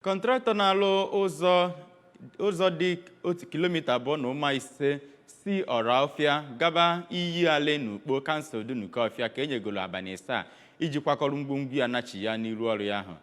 Kọntraktọ na-alụ ụzọ dị otu kilomita abụọ na ụma ise si Ọrọfịa gaba iyi ale n'Ukpo kansụl Dunukọfịa ka enyegolo abalị asaa iji kwakọrọ ngwongwo ya nachịa n'iru ọrụ ya ahụ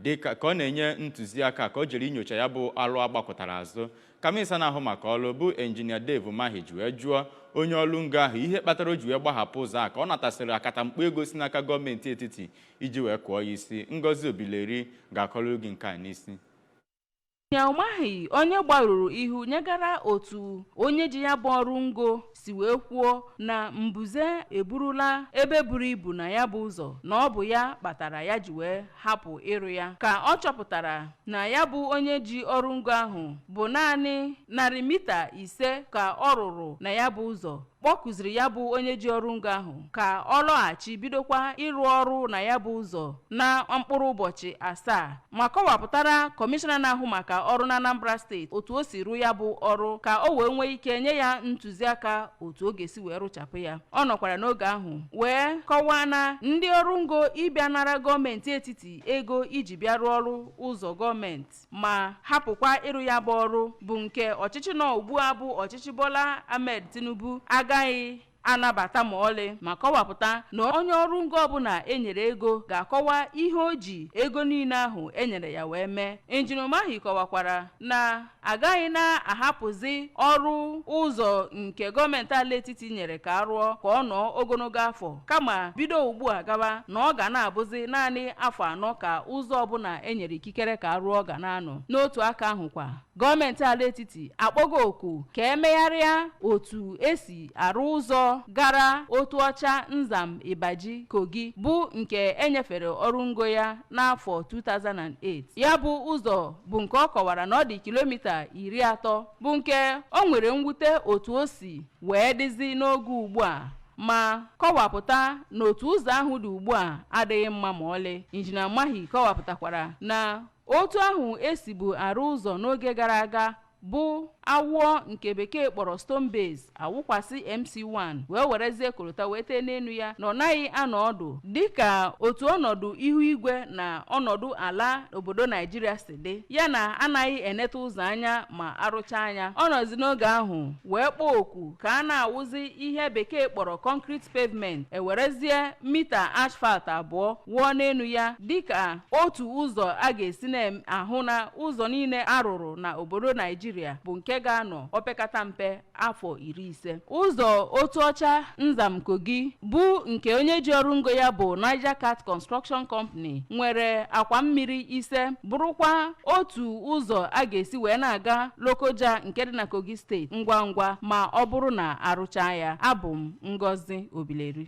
dịka ọ na-enye ntụziaka ka o jere inyocha ya bụ ọlụ agbakụtara azụ ka minista na-ahụ maka ọrụ bụ injinia Dave Umahi ji wee jụọ onye ọrụ ngo ahụ ihe kpatara o ji wee gbahapụ ụzọ a ka ọ natasịrị akatamkpo ego si n'aka gọọmenti etiti iji wee kụọ ya isi Ngozi Obileri ga-akọrọ gị nke a injinia Umahi onye gbarụrụ ihu nyegara otu onye ji ya bụ ọrụ ngo si wee kwuo na mbuze eburula ebe buru ibu na ya bụ ụzọ na ọ bụ ya kpatara ya ji wee hapụ ịrụ ya ka ọ chọpụtara na ya bụ onye ji ọrụ ngo ahụ bụ naanị narị mita ise ka ọ rụrụ na ya bụ ụzọ kpọkuziri ya bụ onye ji ọrụ ngo ahụ ka ọ lọghachi bidokwa ịrụ ọrụ na ya bụ ụzọ na mkpụrụ ụbọchị asaa ma kọwapụtara kọmishọna na-ahụ maka ọrụ na anambra steeti otu o si rụọ ya bụ ọrụ ka o wee nwee ike nye ya ntụziaka otu ọ ga-esi wee rụchapụ ya ọ nọkwara n'oge ahụ wee kọwaa na ndị ọrụ ngo ịbịa nara gọọmenti etiti ego iji bịa rụọ ọrụ ụzọ gọọmenti ma hapụkwa ịrụ ya bụ ọrụ bụ nke ọchịchị nọ ugbu a bụ ọchịchị Bola Ahmed Tinubu agaghị anabata ma ọlị ma kọwapụta na onye ọrụ ngo ọbụla enyere ego ga-akọwa ihe o ji ego niile ahụ enyere ya wee mee injinia Umahi kọwakwara na agaghị na-ahapụzi ọrụ ụzọ nke gọọmenti ala etiti nyere ka a rụọ ka ọ nọọ ogologo afọ kama bido ugbu a gaba na ọ ga na-abụzi naanị afọ anọ ka ụzọ ọbụla enyere ikike ikikere ka a rụọ ga na-anọ n'otu aka ahụ kwa gọọmenti ala etiti akpọgo oku ka emegharịa otu esi arụ ụzọ gara Otuọcha Nzam Ibaji Kogi bụ nke enyefere ọrụ ngo ya n'afọ 2008 ya bụ ụzọ bụ nke ọ kọwara na ọ dị kilomita iri atọ bụ nke o nwere mwute otu o si wee dịzi n'oge ugbu a ma kọwapụta na otu ụzọ ahụ dị ugbu a adịghị mma ma ọlị injinia Umahi kọwapụtakwara na otu ahụ esibu arụ ụzọ n'oge gara aga bụ awụọ nke bekee kpọrọ stone base awụkwasị mc1 wee werezie korota wee tee n'elu ya na ọ naghị anọ ọdụ dịka otu ọnọdụ ihu igwe na ọnọdụ ala obodo naijiria si dị ya na anaghị eneta ụzọ anya ma arụchaa nya ọ nọzi n'oge ahụ wee kpọọ oku ka a na-awụzi ihe bekee kpọrọ concrete pavement ewerezie mita asphalt abụọ wụọ n'elu ya dịka otu ụzọ a ga-esi na-ahụ na ụzọ niile arụrụ na obodo naijiria bụ nke ga-anọ opekata mpe afọ iri ise ụzọ otuọcha nzam kogi bụ nke onye ji ọrụ ngo ya bụ niger cat construction company nwere akwa mmiri ise bụrụkwa otu ụzọ a ga-esi wee na-aga lokoja nke dị na kogi steeti ngwa ngwa ma ọ bụrụ na a rụchaa ya abụ m ngozi obileri